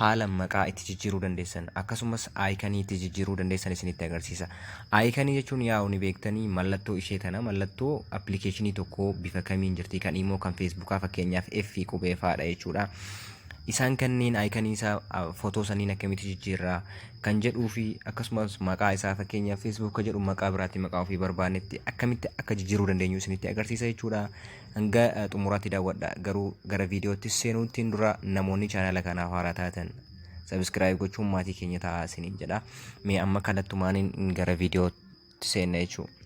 haala maqaa itti jijjiiruu dandeessan akkasumas aayikanii itti jijjiiruu dandeessan isinitti agarsiisa. Aayikanii jechuun yaa'u ni beektanii mallattoo ishee tana mallattoo appilikeeshinii tokkoo bifa kamiin jirti kan imoo kan feesbuukaa fakkeenyaaf F qubee faadha jechuudha. Isaan kanneen aayikanii isaa footoo sanniin akkamitti jijjiirraa kan jedhuu fi akkasumas maqaa isaa fakkeenyaaf feesbuuka jedhu maqaa biraatti maqaa ofii barbaannetti akkamitti akka jijjiiruu dandeenyu isinitti agarsiisa jechuudha. Hanga eh, xumuraatti daawwadha. Garuu gara viidiyoottis seenuuttiin dura namoonni chaanala kanaaf haaraa taatan sabiskiraayib gochuun maatii keenya ta'aa isiniin jedha. Mee amma kallattumaaniin gara viidiyootti seenna jechuudha.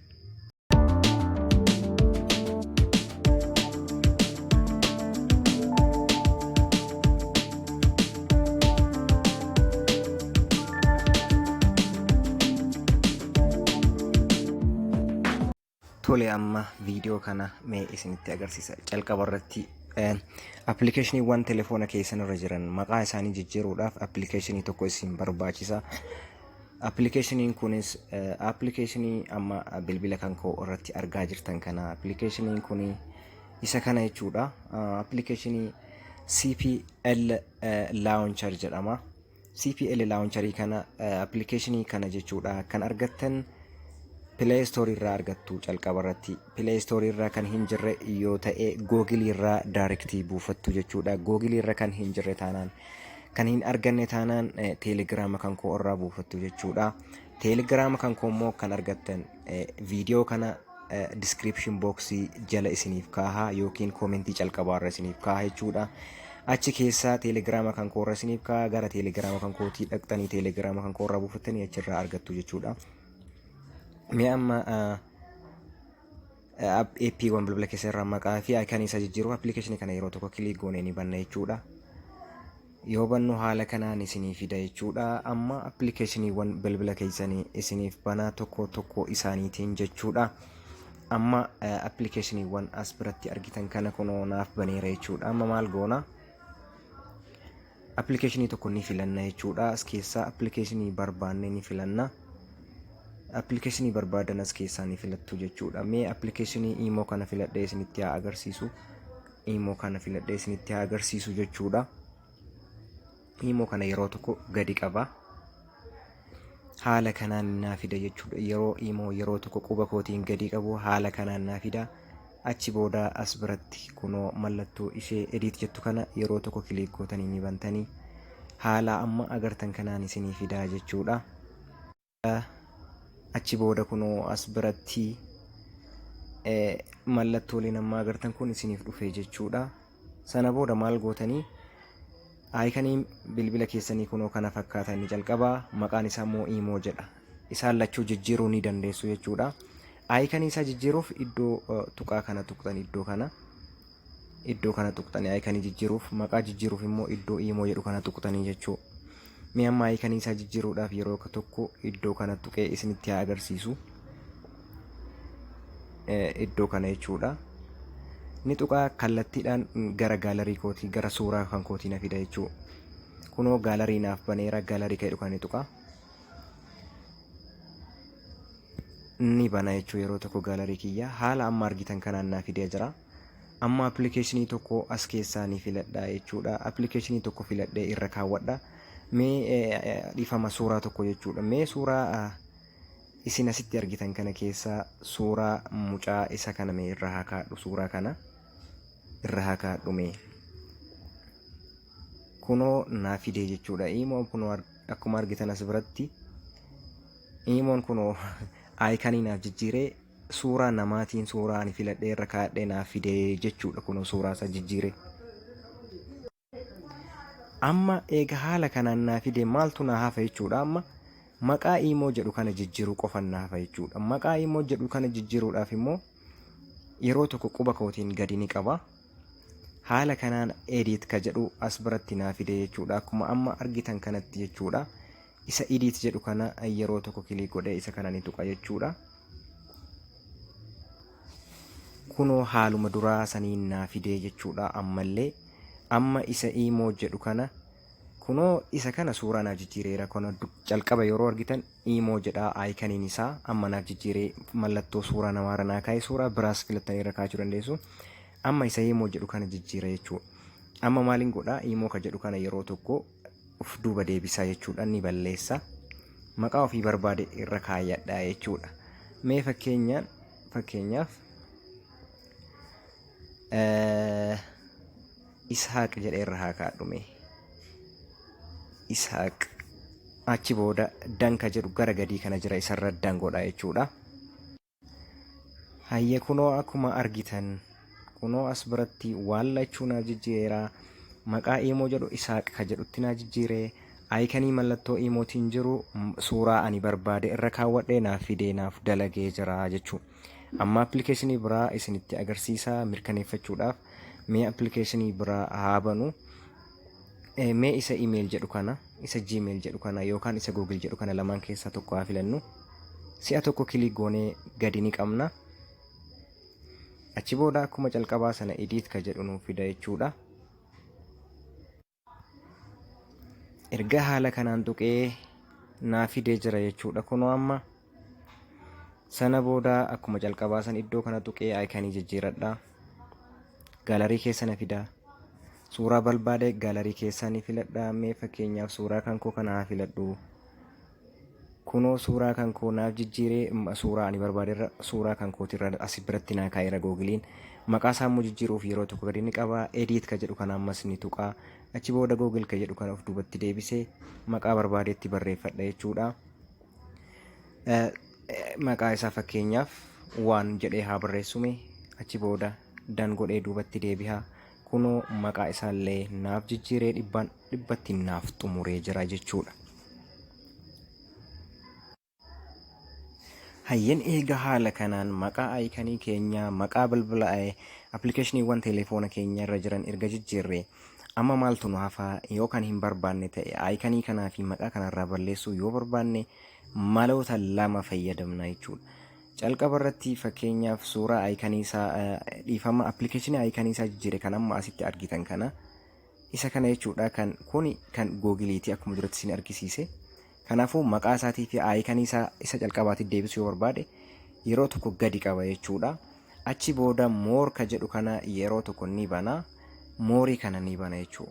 Tole amma viidiyoo kana mee isinitti agarsiisa. Calqaba irratti appilikeeshiniiwwan telefoona keessan irra jiran maqaa isaanii jijjiiruudhaaf appilikeeshinii tokko isin barbaachisa. Appilikeeshiniin kunis appilikeeshinii amma bilbila kan koo irratti argaa jirtan kana appilikeeshiniin kun isa kana jechuudha. Appilikeeshinii CPL Launcher jedhama. CPL launcherii kana appilikeeshinii kana jechuudha kan argattan Play Store irraa argattu calqaba irratti Play Store irraa kan hin jirre yoo ta'e Google irraa direct buufattu jechuudha Google irra kan hin jirre taanaan kan hin arganne taanaan Telegram kan koo irraa buufattu jechuudha Telegram kan koo immoo kan argattan viidiyoo kana description box jala isiniif kaaha yookiin koomentii calqabaarra isiniif kaaha jechuudha. Achi keessaa teelegiraama kan koorra isiniif kaaha gara teelegiraama kan kootii dhaqxanii teelegiraama kan koorraa buufattanii achirraa argattu jechuudha. Mee amma APiiwwan bilbila keessan irraa maqaa fi ayikanii isaa jijjiiruu appilikeeshinii kana yeroo tokko kiliik goonee ni banna jechuudha. Yoo bannu haala kanaan isinii fida jechuudha. Amma appilikeeshiniiwwan bilbila keessanii isiniif banaa tokko tokko isaaniitiin jechuudha. Amma appilikeeshiniiwwan as biratti argitan kana kunoo naaf baneera jechuudha. Amma maal goona? Appilikeeshinii tokko ni filanna jechuudha. As keessaa appilikeeshinii barbaanne ni filanna. Appilikeeshinii barbaadan as keessaa ni filattu jechuudha. Mee appilikeeshinii imoo kana filadhee isinitti haa agarsiisu. iimoo kana filadhee isinitti haa agarsiisu jechuudha. Iimoo kana yeroo tokko gadi qaba. Haala kanaan naa fida jechuudha. Yeroo iimoo yeroo tokko quba kootiin gadi qabu haala kanaan naa fida. Achi booda as biratti kunoo mallattoo ishee ediit jettu kana yeroo tokko kiliik gootanii ni bantanii haala amma agartan kanaan isinii fidaa jechuudha. Achi booda kunoo as biratti mallattooleen amma agartan kun isiniif dhufee jechuudha. Sana booda maal gootanii aayikanii bilbila keessanii kunoo kana fakkaata inni jalqabaa maqaan isaa immoo iimoo jedha. Isaan lachuu jijjiiruu ni dandeessu jechuudha. Aayikanii isaa jijjiiruuf iddoo tuqaa kana tuqxan iddoo kana. iddoo kana tuqxanii ayikanii jijjiiruuf maqaa jijjiiruuf immoo iddoo iimoo jedhu kana tuqxanii jechuu mee amma ayikanii isaa jijjiiruudhaaf yeroo tokko iddoo kana tuqee isinitti haa agarsiisu iddoo kana jechuudha ni tuqaa kallattiidhaan gara gaalarii kootii gara suuraa kan kootii na fida jechuu kunoo gaalarii naaf baneera gaalarii ka'edhu kan ni tuqaa ni bana jechuu yeroo tokko gaalarii kiyya haala amma argitan kanaan naa fidee jira Amma appilikeeshinii tokko as keessaa ni filadha jechuudha. Appilikeeshinii tokko filadhee irra kaawwadha. Mee dhiifama suuraa tokko jechuudha. Mee suuraa isin asitti argitan kana keessaa suuraa mucaa isa kana mee irra haa kaadhu suuraa kana irra haa kaadhu mee. Kunoo naa fidee jechuudha. Iimoon kunoo akkuma argitan as biratti iimoon kunoo aayikanii naaf jijjiiree Suuraa namaatiin suuraa ani filadhee irra kaadhee naaf fide jechuudha kunoo suuraa isaa jijjiire. Amma eega haala kanaan naa fide maaltu naa hafa jechuudha amma maqaa iimoo jedhu kana jijjiiruu qofan naa hafa jechuudha. Maqaa iimoo jedhu kana jijjiiruudhaaf immoo yeroo tokko quba kootiin gadi ni qaba. Haala kanaan edit ka jedhu as biratti naa fide jechuudha akkuma amma argitan kanatti jechuudha. Isa edit jedhu kana yeroo tokko kilik godhee isa kana ni tuqa jechuudha. Kunoo haaluma duraa saniin naa fidee jechuudha ammallee. Amma isa iimoo jedhu kana kunoo isa kana suuraa naaf jijjiireera kana calqaba yeroo argitan iimoo jedha aayikaniin isaa amma naaf jijjiiree mallattoo suuraa namaarra naa kaa'e suuraa biraas filattanii irra kaa'achuu dandeessu. Amma isa iimoo jedhu kana jijjiira jechuudha. Amma maaliin godhaa iimoo ka jedhu kana yeroo tokko of duuba deebisaa jechuudha ni balleessa maqaa ofii barbaade irra kaayyadha jechuudha mee fakkeenyaan fakkeenyaaf ishaaq jedhee irra haa kaadhume ishaaq achi booda danka jedhu gara gadii kana jira isarra dangoodha jechuudha Hayye kunoo akkuma argitan kunoo as biratti waan lachuu naaf jijjiireera. Maqaa iimoo jedhu isaaq ka jedhutti naa jijjiire. Ayikanii mallattoo iimootiin jiru m- suuraa ani barbaade irra kaawwadhee naaf fidee naaf dalagee jira jechuu. Amma appilikeeshinii biraa isinitti agarsiisa mirkaneeffachuudhaaf mee appilikeeshinii biraa haa banu. Eh, Mee isa email jedhu kana, isa gmail jedhu kana yookaan isa google jedhu kana lamaan keessaa tokko haa filannu. Si'a tokko kilik goonee gadi ni qabna. Achi booda akkuma calqabaa sana edit ka jedhu nuuf fida jechuudha. Erga haala kanaan tuqee naa fidee jira jechuudha kunoo amma sana booda akkuma jalqabaa san iddoo kana tuqee aayikanii jijjiiradha gaalarii keessa na fida suuraa barbaade gaalarii keessaa ni filadha mee fakkeenyaaf suuraa kan koo kana haa filadhu kunoo suuraa kan koo naaf jijjiiree m- suuraa ani barbaaderra suuraa kan kootirra asi biratti naa kaa'eera googiliin maqaa isaa immoo jijjiiruuf yeroo tokko gadi ni qaba ediit ka jedhu kana ammas ni tuqa achi booda googil ka jedhu kana of duubatti deebisee maqaa barbaadeetti barreeffadha jechuudha Maqaa isaa fakkeenyaaf waan jedhee haa barreessume achi booda dan godhee duubatti deebi'aa kunoo maqaa isaallee naaf jijjiiree dhibbaan dhibbatti naaf xumuree jira jechuudha. Hayyen eega haala kanaan maqaa ayikanii keenyaa maqaa bilbila appilikeeshiniiwwan teleefoona keenya irra jiran erga jijjiirree Amma maaltu nu hafa? Yoo kan hin barbaanne ta'e aayikanii kanaa fi maqaa kanarraa balleessuu yoo barbaanne maloota lama fayyadamna jechuudha. Calqaba irratti fakkeenyaaf suuraa aayikanii isaa dhiifama appilikeeshinii aayikanii isaa jijjiire kan amma asitti argitan kana isa kana jechuudha kan kuni kan googiliiti akkuma duratti isin argisiise Kanaafuu maqaa isaatii fi aayikanii isaa isa calqabaatiif deebisuu yoo barbaade yeroo tokko gadi qaba jechuudha. Achi booda more ka jedhu kana yeroo tokko ni bana. Moorii kana ni bana jechuu.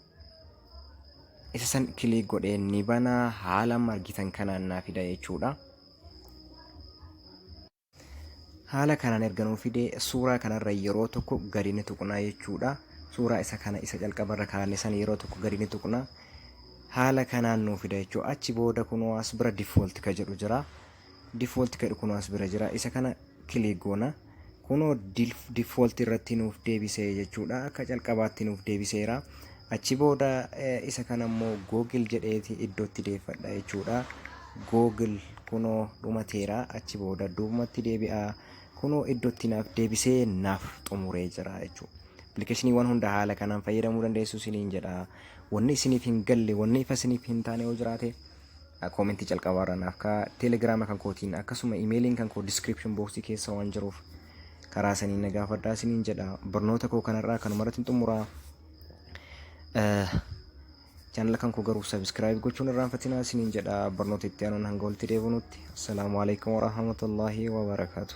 Isa san kiliik godhee ni bana haala amma argitan kanaan naa fida jechuudha. Haala kanaan erga nuu fide suuraa kanarra yeroo tokko gadi ni tuqnaa jechuudha. Suuraa isa kana isa calqabarra kaa'anne sana yeroo tokko gadi ni tuqna. Haala kanaan nuu fida jechuudha. Achi booda kunoo as bira default ka jedhu jira. Default ka jedhu kunoo as bira jira. Isa kana click goona. Kunoo default irratti nuuf deebisee jechuudha. Akka calqabaatti nuuf deebiseera. Achi booda isa kana immoo Google jedheeti iddootti deeffadha jechuudha. Google kunoo dhumateera achi booda duubumatti deebi'a. Kunoo iddootti naaf deebisee naaf xumuree jira jechuudha. Appilikeeshiniiwwan hunda haala kanaan fayyadamuu dandeessu isiniin jedha. Wanni isiniif hin galle, wanni ifa isiniif hin taane yoo jiraate koomentii jalqabaarra naaf kaa'aa. Telegiraama kan kootiin akkasuma imeeliin kan koo diskiripshin booksii keessa waan jiruuf karaa saniin na gaafadhaa isiniin jedha barnoota koo kanarraa kanuma irratti xumuraa chaanala kan koo garuu sabiskiraayib gochuun irraan fatinaa isiniin jedha barnoota itti aanuun hanga walitti deebinutti assalaamu alaikum warahmatullaahi wabarakaatu